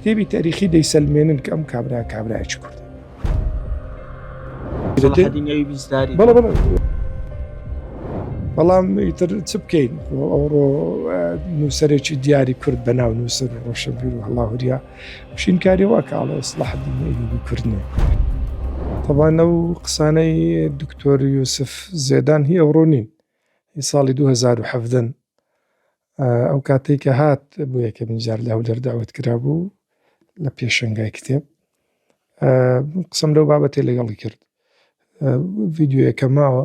کتێبی تاریخی دەیسەلمێنن کە ئەم کابرا کابراایکی کوردە بەڵام ئیتر چ بکەین ئەوڕۆ نووسەرێکی دیاری کورد بە ناو نووسەر ڕۆشەبیر و هەڵاهوریا شینکاری وا کاڵێ سڵحدی کوردنێ تەبانە و قسانەی دکتۆر یوسف زێدان هی ئەوڕۆ نین هی ساڵی 2017 ئەو کاتەی کە هات بۆ یەکەمین جار لە هەولێر داوت کرا بوو لە پێشنگای کتێب قسم لەو بابەتێ لەگەڵی کرد ڤیددیوەکە ماوە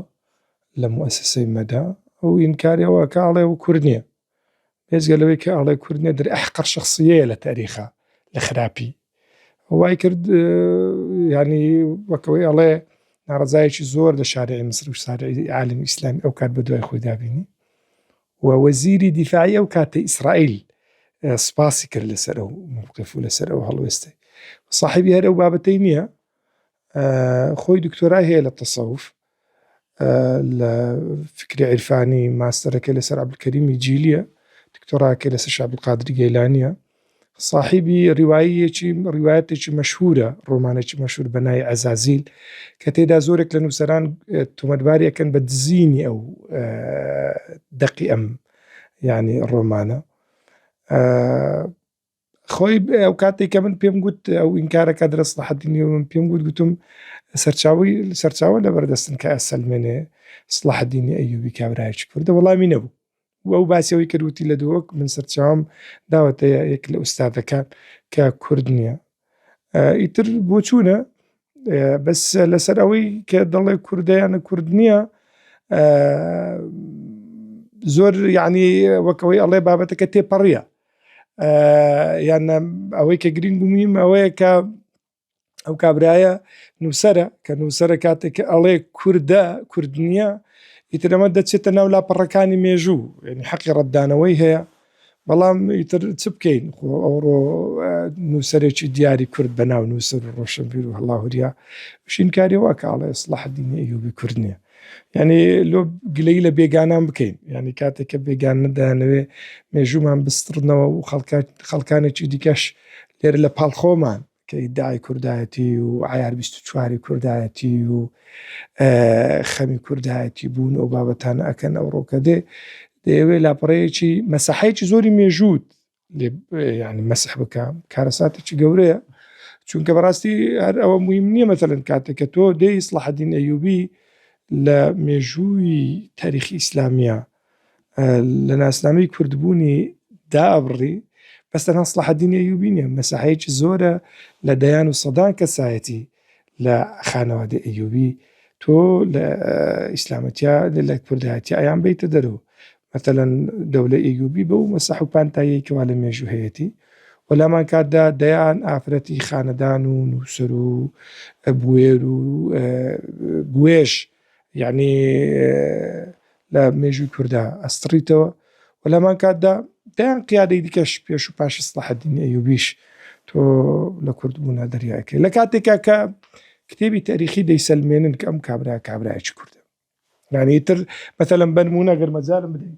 لە موسسەی مەدا ئەو ئینکاریەوە کاڵێ و کورد نییە بێزگە لەوەی کە ئەڵێ کورد نیە در ئەحقەر شخصیە لە تاریخە لە خراپی وای کرد ینی وەکەوەی ئەڵێ ناڕزایەکی زۆر لە شارعی مسر و سارعی عالم ئیسلام ئەو کات بە دوای خۆی دابینی و وەزیری دیفاعی ئەو کاتی ئیسرائیل سپاسی کرد لەسەر ئەو موقف و لەسەر ئەو هەڵوێستێ صاحبی هەر ئەو بابەتەی نییە خۆی دکتۆرای هەیە لە تەسەوف لە فکری عیرفانی ماستەرەکە لەسەر عبلکەریمی جیلیە دکتۆراکە لەسەر شابقادری گەیلانە ساحیبی ڕیوایەیەکی ڕیوایەتێکی مەشهورە ڕۆمانێکی مەشهور بە نای عەزازیل کە تێدا زۆرێک لە نووسەران تۆمەتبارەکەن بە دزینی ئەو دەقی ئەم ینی ڕۆمانە خۆی ئەو کاتێک کە من پێم گوت ئەو ئینکارەکە درست لە حدی نیو من پێم گوت گوتم سەرچاوی سەرچاوە لە بەردەستن کە ئەسەلمێنێ سلاحدینی ئەیوبی کابراایکی کوردە وەڵامی نەبوو و ئەو باسی ئەوەی کرد وتی لە دۆک من سەرچاوم داوەتە یەک لە ئوستادەکان کە کورد نییە ئیتر بۆچوونە بەس لەسەر ئەوەی کە دەڵێ کوردیانە کورد نییە زۆر یعنی وەکەوەی ئەڵێ بابەتەکە تێپەڕە یان ئەوەی کە گرنگ و میم ئەوەیە کە ئەو کابرایە نووسرە کە نووسرە کاتێک کە ئەڵێ کووردە کوردنیە ئیترەمە دەچێتە ناو لاپەڕەکانی مێژوو ینی حەقی ڕەتدانەوەی هەیە بەڵام ئیتر چ بکەین خۆ ئەوڕۆ نووسەرێکی دیاری کورد بە ناو نووسەر ڕۆشنبیر و هەڵاهوریا شینکاری واکە ئاڵێ سلاح دینی یوبی کورد نیە یعنی لۆ گلەی لە بێگانان بکەین یعنی کاتێککە بێگان ندانەوێ مێژوومان بستڕنەوە و خەڵکات خەڵکانێکی دیکەش لێر لە پاڵ خۆمان کە ئیددای کوردایەتی و عیار 24 کوردایەتی و خەمی کوردایەتی بوون و بابەتان ئەکەن ئەو ڕۆکە دێ دەیەوێ لاپەڕەیەکی مەسەحەیەکی زۆری مێژووت ینی مەسح بکە کارەساتێکی گەورەیە چونکە بەڕاستی هەر ئەوە مهم نییە مەتەلەن کاتێک کە تۆ دەی سڵحدین ئەیوبی لە مێژووی تاریخی ئیسلامیە لە ناسنامەی کوردبوونی دابڕی بەستەنها سڵحدین ئەیوبی نیە مەساحەیەکی زۆرە لە دەیان و سەدان کەسایەتی لە خانەوادەی ئەیوبی تۆ لە ئیسلامەتیا لە کوردایەتی ئەیان بیتە دەرەوە مەتەلەن دەولە ئەیوبی بەو مەسەح و پانتایی کەوا لە مێژوو هەیەتی وەلامان کاتدا دەیان ئافرەتی خانەدان و نووسەر و بوێر و بوێش یەعنی لە مێژووی کوردا ئەستڕیتەوە و لەمان کاتدا دەیان قیادەی دیکەش پێش و پاشی سڵحەدینی ئەیوبیش تۆ لە کورد بوونا دەریاکەی لە کاتێکا کە کتێبی تاریخی دەیسەلمێنن کە ئەم کابرا کابراایکی کوردە نانیتر بەتەلم بەنمونە گەرمەجارم بدەین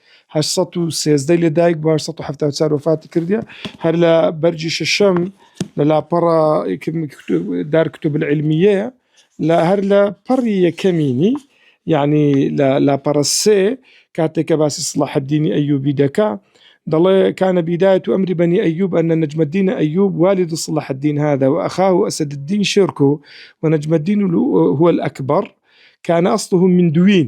هەشت سەد و سێزدە لە دایک بووە، هەشت سەد و حەفتا و چوار وەفاتی کردیە، هەر لە بەرگی شەشەم لە لاپەڕە دار کتب العلمیەیە لە هەر لە پەڕی یەکەمینی یعنی لە لاپەڕە سێ کاتێک کە باسی صلاح الدینی ئەیوبی دەکا دەڵێ کانە بیدایەت و ئەمری بەنی ئەیوب ئەنە نەجمەدینە ئەیوب والد صلاح الدین هذا وأخاه أسد الدين شركه ونجم الدين هو الأكبر كان أصله من دوين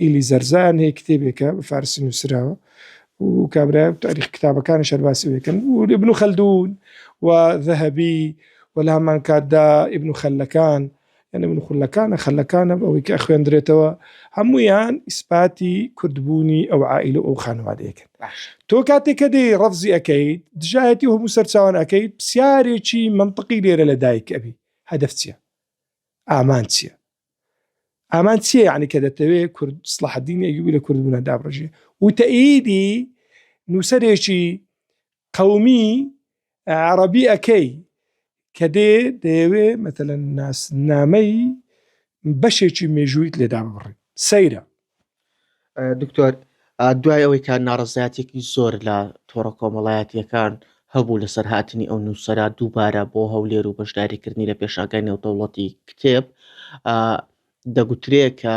ئیلی زەرزان هەیە کتێبێکە بە فارسی نووسراوە و کابرا تاریخ کتابەکانی شەرباسی بکەن و لە بن و خەلدون و ذهبی و لە هەمان کاتدا ئبن و خەلەکان یعنی من خولەکانە خەلەکانە ئەوەی کە خوێندرێتەوە هەمویان ئیسپاتی کوردبوونی ئەو عائیل و ئەو خانوادەیەکن تۆ کاتێک کە دەی ڕفزی ئەەکەیت دژایەتی هەموو سەرچوان ئەەکەیت پرسیارێکی منطقی لێرە لە دایک ئەبی هەدف چییە؟ ئامان چییە؟ ئامان چیە یعنی کە دەتەوێ کورد سڵحدین ئەیوبی لە کوردبوونا دابڕژێ وتەئیدی نووسەرێکی قەومی عربی ئەەکەی کە دێ دەیەوێ مەتەلەن ناسنامەی بەشێکی مێژوویت لێدا بڕی سەیرە دکتۆر دوای ئەوەی کە ناڕزایەتێکی زۆر لە تۆڕە کۆمەڵایەتیەکان هەبوو لەسەر هاتنی ئەو نووسرا دووبارە بۆ هەولێر و بەشداریکردنی لە پێشاگای نێودەوڵەتی کتێب دەگوترێ کە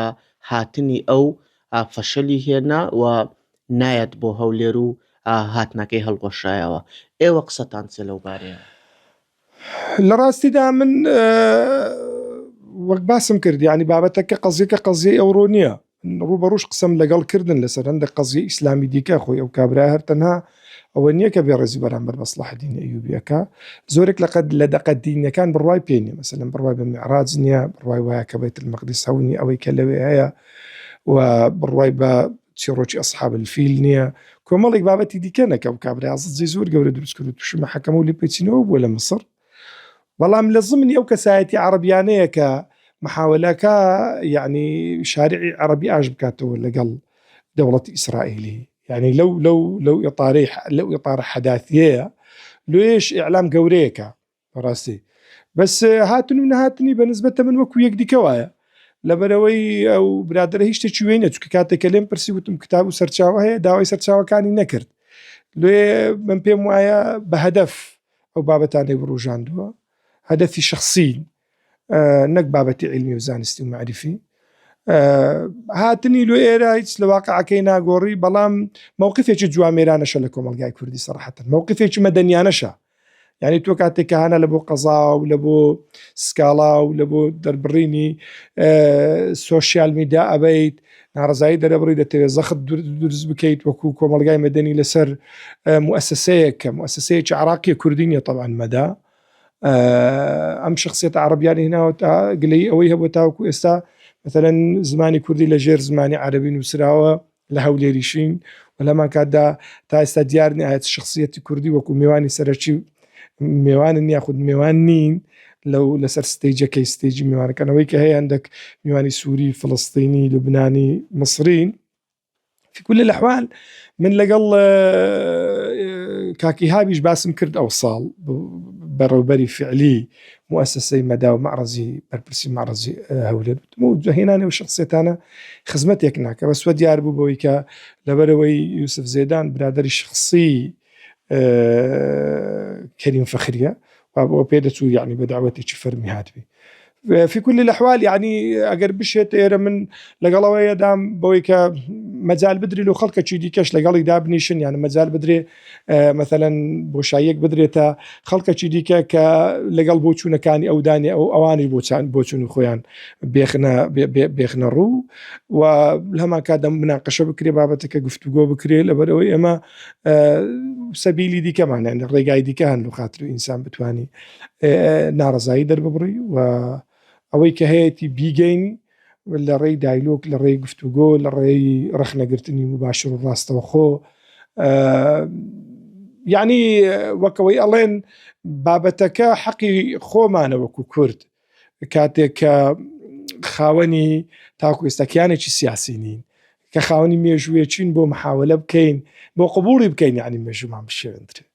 هاتنی ئەو فەشەلی هێنا و نایەت بۆ هەولێر و هاتنەکەی هەڵگۆشایەوە ئێوە قسەتان چێ لەو بارەیە لە ڕاستیدا من وەک باسم کرد یعنی بابەتەکە قەزیەکە قەزیەی ئەوڕۆ نییە ڕوبەڕوش قسم لەگەڵ کردن لەسەر هەندە قەزیە ئیسلامی دیکە خۆی ئەو کابرا هەر تەنها ئەوە نییە کە بێ ڕێزی بەرامبەر بەسلحدین ئەیوبیەکە زۆرێک لەقەت لە دەقە دینەکان بڕوای پێ نیە مەسەن بڕوای بە میعراج نییە بڕوای وایە کە بێت مەقدس هەونی ئەوەی کە لەوێ هەیە و بڕوای بە چیڕۆکی ئەسحاب الفیل نییە کۆمەڵێک بابەتی دیکە نەکەم کابرای ئاززی زۆر گەورە دروست کرد و تووشی مەحەکەمە و لێپێچینەوە بووە لە مسڕ بەڵام لە زمنی ئەو کەسایەتی عەرەبیانەیە کە محاولەکە یعنی شارعی عەربی ئاش بکاتەوە لەگەڵ دەوڵەتی ئیسرائیلی یعنی لەو لەو لەو ئێپارەی لەو ئێپارە حەداتیەیە لێش ئیعلام گەورەیەەکە بەڕاستی بەس هاتن و نهاتنی بە نسبەت تەمن وەکو یەکدیکە وایە لەبەرەوەی ئەو برادرە هیچ شتێکی وێ نەچکە کاتێکە لێم پرسی وتم کتاب و سەرچاوە هەیە داوای سەرچاوەکانی نەکرد لێ من پێم وایە بە هەدەف ئەو بابەتانی بڕژاندووە هەدەفی شخصی نەک بابەتی علمی و زانستی و معریفی هاتنی لۆ ئێرە هیچ لە واقعەکەی ناگۆڕی بەڵام مووقفێکی جوامێرانەشە لە کۆمەلگای کوردی سەرحەتن مووقفێکی مەدەنیانەشە یعنی تۆ کاتێک کە هانا لە بۆ قەزا و لە بۆ سکاڵا و لە بۆ دەربڕینی سوۆسیال میدا ئەبیت ناڕزایی دەرەبڕی دەتەوێت زەخت دروست بکەیت وەکو کۆمەلگای مەدەنی لەسەر موسسەیە کە موسسەیەکی عراقیە کوردی نیە طبعاان مەدا ئەم شخصێت عربیانی هناوە تا گلەی ئەوەی هەبوو تاوەکو ئێستا مثلەن زمانی کوردی لە ژێر زمانی عربی نووسراوە لە هەولێریشین و لەمان کاتدا تا ئێستا دیار نیە ئایا چ شخصیەتی کوردی وەکو میوانی سەرەکی و میوانن یاخود میوان نین لەو لەسەر ستەیجەکەی ستەیجی میوانەکەنەوەی کە هەیە هەندێک میوانی سووری فلستینی لوبنانی مصرین في كل الاحوال من لەگەڵ کاکی هابیش باسم کرد ئەو ساڵ بەڕێوبەری فعلی موسسەی مەدا و معرەزی بەرپرسی معرەزی هەولێر و جوهێنانی ئەو شەخسیەتانە خزمەتێک ناکە بەس وە دیار بوو بەوەی کە لەبەرەوەی یوسف زێدان برادری شخصی کەریم فەخریە و پێ دەچوو یعنی بە داوەتێکی فەرمی هاتبی في كل الاحوال يعني ئەگەر بشێت ئێرە من لەگەڵەوەیەدام بەوەی کە مەجال بدرێت و خەڵکەکی دیکەش لەگەڵی دابنیشن یان مەجال بدرێت مەسەلەن بۆشاییەک بدرێتە خەڵکەکی دیکە کە لەگەڵ بۆ چوونەکانی ئەو دانێ ئەو ئەوانش بۆ چاند بۆ چون خۆیان بێخنە بێخنە ڕوو و هەمان کاتدەم مناقەشە بکرێ بابەتەکە گفتوگۆ بکرێت لەبەرەوەی ئێمە سەبیلی دیکەمانە لە ڕێگای دیکە هەن و خاتر و ئینسان بتانی ناڕزایی دەرببڕی و ئەوەی کە هەیەی بیگەین لە ڕێی دایلۆگ، لە ڕێی گفتوگۆ، لە ڕێی ڕەخنەگرتنی مباشر و ڕاستەوخۆ یعنی وەکەوەی ئەڵێن بابەتەکە حەقی خۆمانە وەکو کورد کاتێک کە خاوەنی تاکو ئێستاکیانێکی سیاسی نین کە خاوەنی مێژوویەچین بۆ مححاولە بکەین بۆ قوبولی بکەین ینی مێژومان بشێندرێت